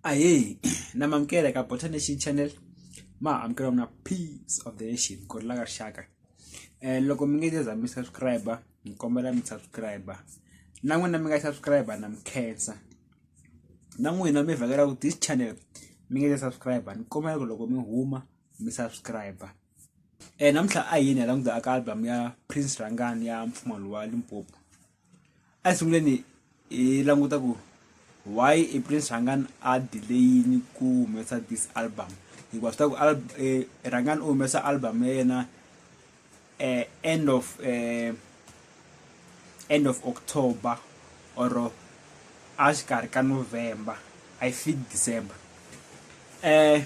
ayey namamkele ka bota nation channel ma amukela mina peace of the nation ku rila ka rixaka um loko mi nge se za mi subscribe mi kombela mi subscribe na n'wina mi nga subscribe na mi khensa na n'wina mi vhakela ku this channel mi nge se subscribe ni kombela ku loko mi huma mi subscribe um namuntlha a yini hi languta aka album ya prince rangani ya mpfumalo wa limpopo a sunguleni hi languta ku why i prince rhangani a delayini ku humesa this album hikuva swi ta ku rhangani u humesa album ya yena um end of um end of october or a xikarhi ka november i think december um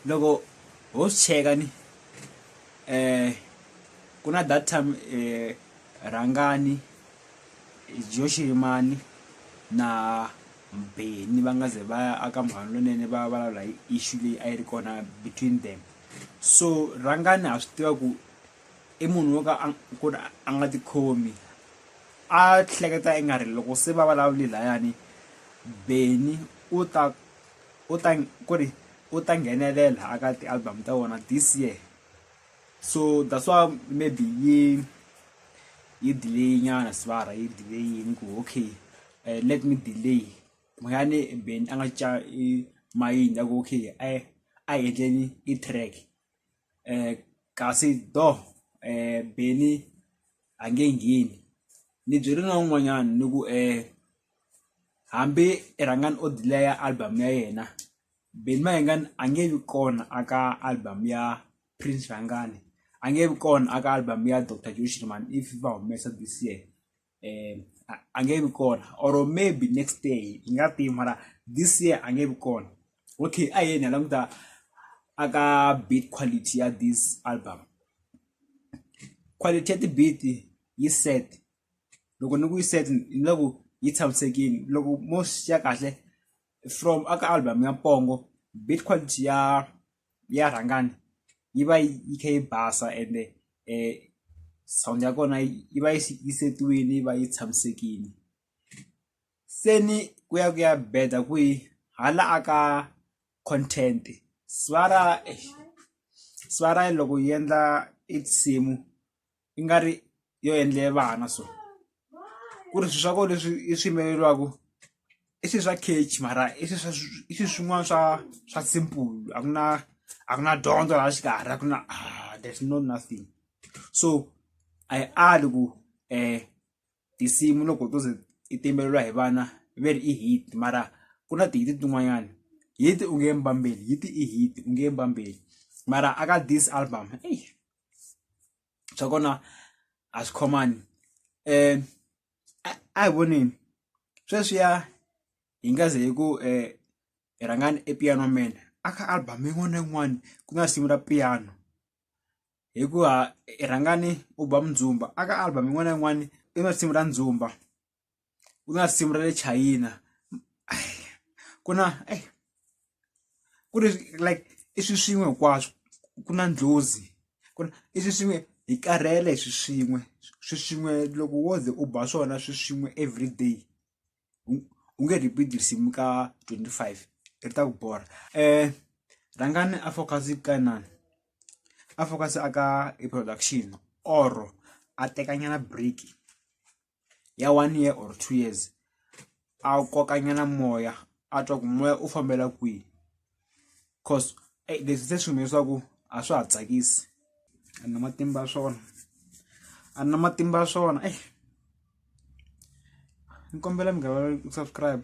loko ho swi cheka ni. eh ku na that time eh rhangani joxirimani na mbheni va nga ze va ya aka mhani lonene va vulavula hi issue leyi a yi ri kona between them so rhangani ha swi tiva ku i munhu wo ka a- ku ri a nga tikhomi a hleketa i nga ri loko se va vulavule layani beni u ta u ta ku ri u ta nghenelela a ka ti-album ta vona this year so that's why maybe yi yi delay nyana sibara yi delay yini ku okay uh, let me delay moyane ben a nga ca mayini ya ku okay a a endleni i-track um kasi do um beni a nge ngheni ni byeli na un'wanyana ni ku um hambi i rhangani o delay-a album ya yena Benny Mayengani a nge vi kona a ka album ya Prince Rhangani a nge vi kona a ka album ya Doctor Joe Shirimani if va humesa this year um a nge vi kona or maybe next year hi nga tivi mara this year a nge vi kona. okay a yena languta aka beat quality ya this album quality ya ti-beat yi set loko ni ku yi set ni la ku yi tshamisekile loko mo swi ya kahle from aka album ya pongo beat quality ya ya rhangani yi va yi yi kha yi basa ende um sound ya kona yi yi va yi si- yi setiwile yi va yi tshamisekile Seni kuya kuya beda ku yi hala a ka content swara swara loko yi endla i tinsimu i nga ri yo endle vana so ku ri swilo swa kona leswi i swi yimbeleriwaka i swilo swa catch mara i swi swa i swilo swin'wana swa swa simple a ku na a ku na dyondzo laha xikarhi a ku na there's no nothing so a yi ali ku . tinsimu loko to ze ti timbeleriwa hi vana ve ri i hit mara ku na tihiti tin'wanyani hit u nge mbambeli hit i hit u nge mbambeli mara a ka this album eyi swa kona a swi khomani um a hi voneni sweswiya hi nga ze hi ku um hi rhangani e piano man a ka album yin'wana na yin'wana ku na risimu ra piano hikuva i rhangani u ba mindzumba a ka album yin'wana na yin'wana i na risimu ra ndzumba ku na risimu ra le chayina ku na eyi ku ri like i swi swin'we hinkwaswo ku na ndlhozi ku na i swi swin'we hi karhele hi swi swin'we swi swin'we loko wo ze u ba swona swi swin'we everyday. u nge repeat risimu ka 25 ri ta ku borha um rhangani a focus ka inani a focus aka i production or a tekanyana break ya one year or two years a kokanyana moya a twa ku moya u fambela kwihi cause eyi leswi se swi leswaku a swa ha tsakisi a ni na matimba ya swona a ni na matimba ya swona eyi ni kombela mi nga ku subscribe.